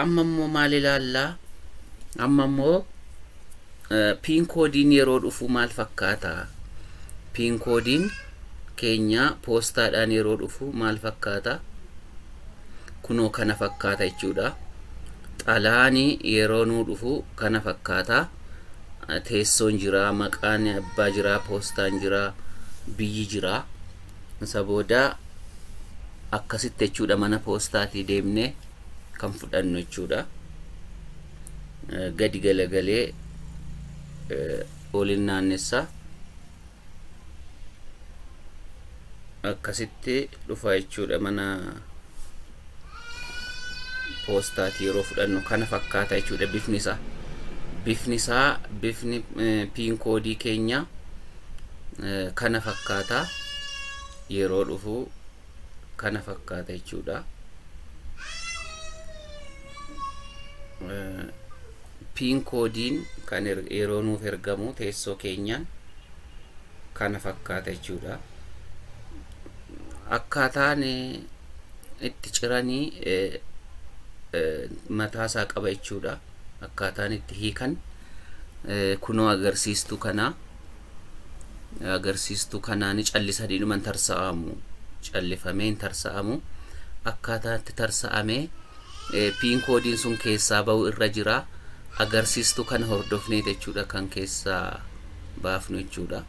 Amma immoo maal ilaalla? Amma immoo piin koodiin yeroo dhufu maal fakkaata? Piin koodiin keenya poostaadhaan yeroo dhufu maal fakkaata? Kunoo kana fakkaata jechuudha. Xalaani yeroo nuu dhufu kana fakkaata. Teessoon jira, maqaan abbaa jira, poostaan jira, biyyi jira. Isa booda akkasitti jechuudha mana poostaatii deemnee kan fudhannu jechuudha. Gadi galagalee olin naannessa akkasitti dhufa jechuudha mana poostaati yeroo fudhannu kana fakkaata jechuudha bifni isaa bifni isaa bifni piin koodii keenya kana fakkaata yeroo dhufu kana fakkaata jechuudha piin koodiin kan yeroo nuuf ergamu teessoo keenyaan kana fakkaata jechuudha. Akkaataan itti ciranii mataasaa qaba jechuudha. Akkaataan itti hiikan kunoo agarsiistuu kanaa agarsiistuu kanaa ni callisanii dhuma hin tarsa'amu callifamee hin tarsa'amu akkaataa itti tarsa'amee piin koodiin sun keessaa ba'u irra jira agarsiistuu kana hordofnee jechuudha kan keessaa baafnu jechuudha.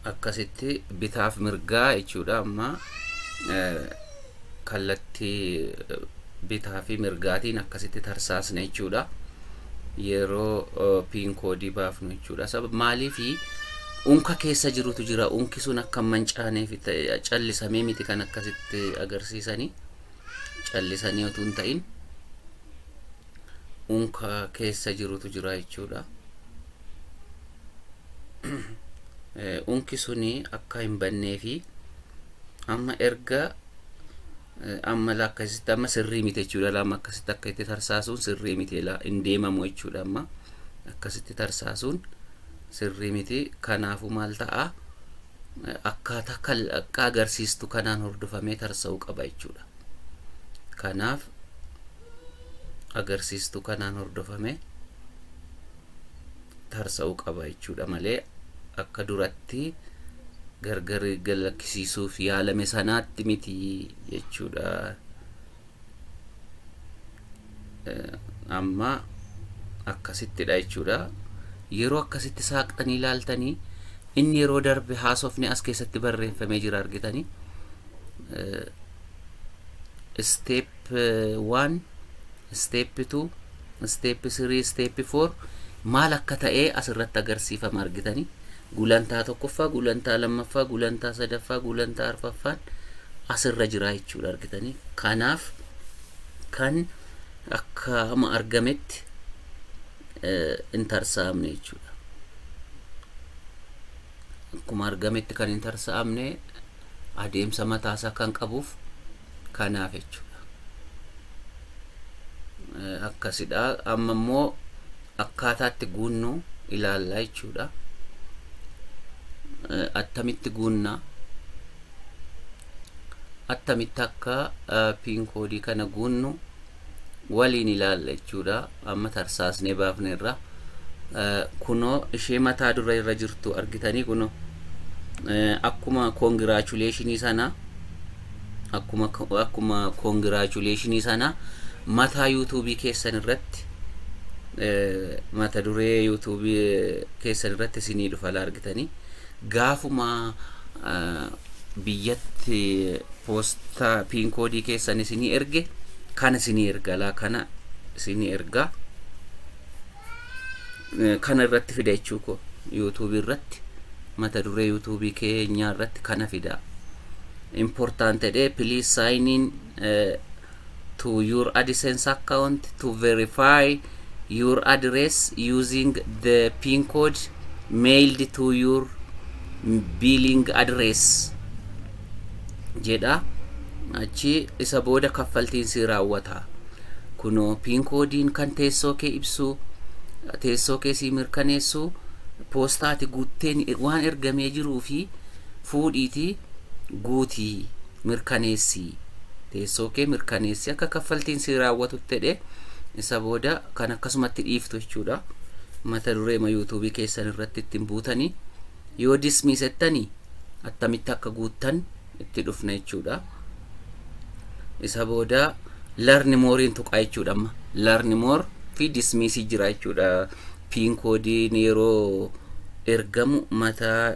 akkasitti bitaaf mirgaa jechuudha amma kallattii bitaa fi mirgaatiin akkasitti tarsaasna jechuudha. Yeroo piin koodii baafnu jechuudha. Sabab maaliif unka keessa jirutu jira. Unki sun akka hin mancaaneef callisamee miti kan akkasitti agarsiisanii. Callisanii otuu hin ta'in unka keessa jirutu jira jechuudha. unki suni akka hin bannee fi amma erga amma la akkasitti amma sirrii miti jechuudha lama akkasitti akka itti tarsaasuun sirrii miti la hin deemamu jechuudha amma akkasitti tarsaasuun sirrii miti kanaafuu maal ta'a akkaataa kal akka agarsiistu kanaan hordofamee tarsa'uu qaba jechuudha kanaaf agarsiistu kanaan hordofamee tarsa'uu qaba jechuudha malee akka duratti gargar galakkisiisuuf yaalame sanaatti miti jechuudha. Amma akkasittidha jechuudha. Yeroo akkasitti saaqxanii ilaaltanii inni yeroo darbe haasofni as keessatti barreeffamee jira argitanii. Step 1, step 2, Step 3, Step 4 maal akka ta'ee as irratti agarsiifama argitani. Gulantaa tokkoffaa, gulantaa lammaffaa, gulantaa sadaffaa, gulantaa arfaffaan as irra jira jechuudha argitani. Kanaaf kan akka amma argametti hin tarsa'amne jechuudha. Akkuma argametti kan hin tarsa'amne adeemsa mataasaa kan qabuuf kanaaf jechuudha akkasidha amma immoo akkaataatti guunnu ilaalla jechuudha attamitti guunna attamitti akka piin koodii kana guunnu waliin ilaalla jechuudha amma tarsaasnee baafne irra kunoo ishee mataa dura irra jirtu argitanii kunoo akkuma koongiraachuleshinii sana akkuma akkuma koongiraachuleshinii sana mataa yuutuubii keessan irratti mata duree yuutuubii keessan irratti isinii dhufa argitanii Gaafuma biyyatti poostaa pin koodii keessan isinii erge kana isinii erga laa kana isinii erga kana irratti fida jechuu koo yuutuubii irratti mata duree yuutuubii keenyaa irratti kana fida important ta'e please sign in to your AdSense account to verify your address using the PIN code mailed to your billing address jedha. Achi isa booda kaffaltiin si raawwata. Kunoo PIN koodiin kan teessoo kee ibsu, teessoo kee si mirkaneessu, poostaati guutteen waan ergamee jiruu fi fuudhiiti. guutii, mirkaneessi, teessoo kee mirkaneessi akka kaffaltiin sii raawwatutti jedhee isa booda kan akkasumatti dhiiftu jechuudha. Mata duree ma yuutuubii keessan irratti ittiin buutanii yoo dismii settanii attamitti akka guuttan itti dhufna jechuudha. Isa booda larni mooriin tuqaa jechuudha amma. Larni moor fi dismiisii jira jechuudha. Piin koodiin yeroo ergamu mataa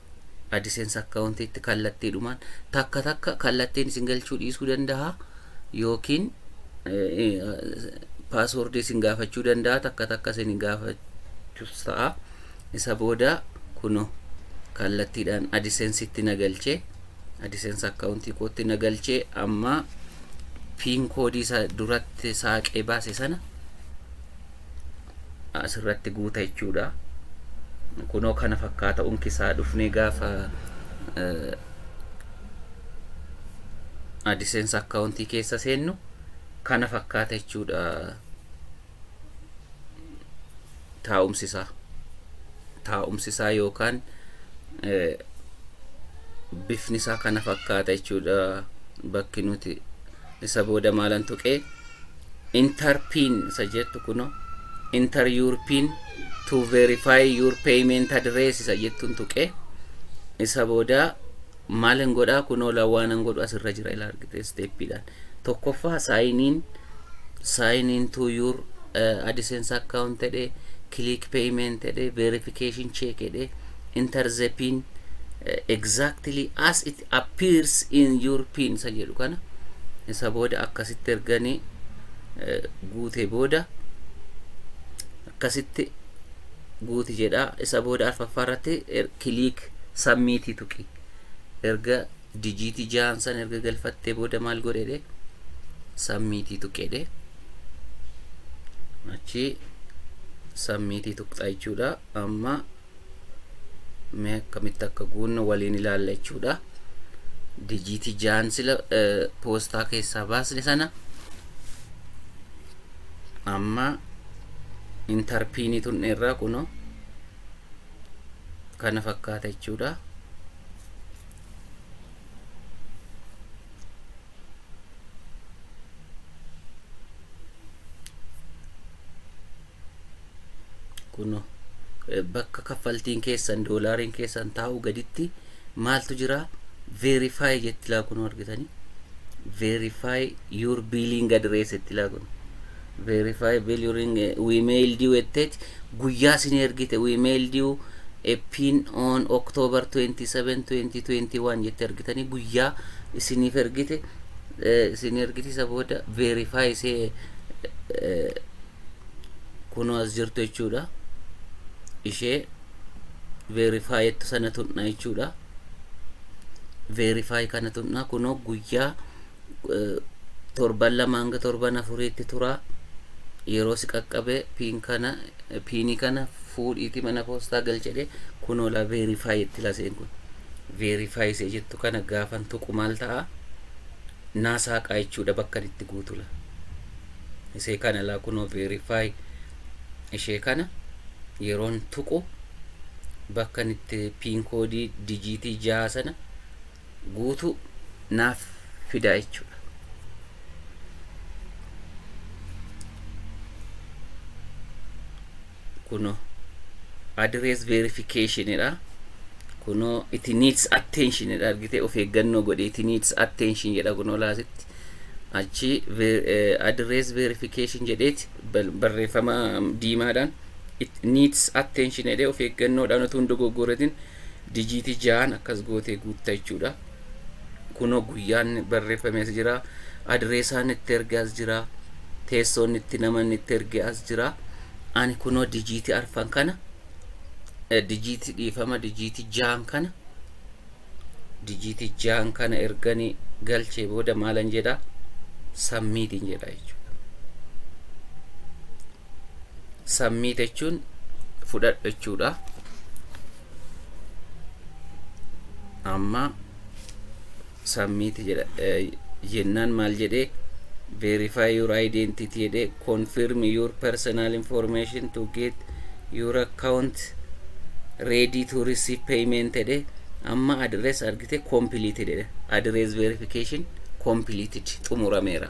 AdSense account itti kallattiidhumaan takka takka kallattiin isin galchuu dhiisuu danda'a yookiin password isin gaafachuu danda'a takka takka isin gaafachus ta'a isa booda kuno kallattiidhaan AdSense itti na galchee AdSense account kootti na galchee amma piin koodii isa duratti saaqee baase sana asirratti guuta jechuudha. Kunoo kana fakkaata unki isaa dhufnee gaafa AdSense akkaawuntii keessa seennu kana fakkaata jechuudha taa'umsi isaa. Taa'umsi isaa yookaan bifni isaa kana fakkaata jechuudha bakki nuti Isa booda maalan tuqe? Enter pin isa jettu kuno. Enter your pin to verify your payment address isa jettun tuqe. Isa booda maalin godha kunoo lawaanan godhu asirra jira ila argite steppiidhaan. Tokkoffaa sign in sign in to your uh, AdSense account jedhe click payment jedhe verification check jedhe enter the pin uh, exactly as it appears in your pin isa jedhu kana isa booda akkasitti erganii guute booda akkasitti guuti jedha isa booda arfaffaa irratti kiliik sammiitii tuqi erga dijiitii jahan san erga galfattee booda maal godhedhe sammiitii tuqedhe achi sammiitii tuqxaa jechuudha amma mee akkamitti akka guunnu waliin ilaalla jechuudha dijiitii jaan sila poostaa keessaa baasne sana amma intarpiinii tunne irraa kuno kana fakkaata jechuudha kun bakka kaffaltiin keessan doolaariin keessan taa'u gaditti maaltu jira verify jetti laa kun argitanii verify your billing address jetti laa kun verify bill your we mailed you etteeti guyyaa sin ergite we mailed you a pin on October 27 2021 jetti argitanii guyyaa isiniif ergite isin ergite isa booda verify isee kunoo as jirtu jechuudha ishee verify jettu sana tuqna jechuudha verify kana tuqna kunoo guyyaa eh, torban lama hanga torban afuriitti tura yeroo si qaqqabe piin kana eh, piinii kana fuudhiiti mana poostaa galchedhe kunoo la verify jetti laseen kun verify isee jettu kana gaafan tuqu maal ta'a naa saaqaa jechuudha bakka itti guutula isee kana laa kunoo verify ishee kana yeroon tuqu bakka itti piin koodii dijiitii jaha sana guutuu naaf fidaa jechuudha. kuno address verification dha kuno it needs attention dha argite of eeggannoo godhi it needs attention jedha kuno laasitti achi ver- eh, address verification jedheeti bal- barreeffama diimaadhaan it needs attention jedhee of eeggannoodhaan utuu hin dogoggoratin dijiitii ja'an akkas gootee guutta jechuudha Kunoo guyyaan barreeffame as jira. Adireesaan itti erge as jira. Teessoon itti namanni itti erge as jira. Ani kunoo dijiitii arfan kana eh, dijiitii dhiifama dijiitii jaan kana dijiitii jaan kana erganii galchee booda maalan jedha sammiitiin jedha jechuudha. submit jechuun fudhadhu jechuudha amma submit jedha jennaan maal jedhee verify your identity jedhee confirm your personal information to get your account ready to receive payment jedhe amma address argite completed jedhe address verification completed xumurameera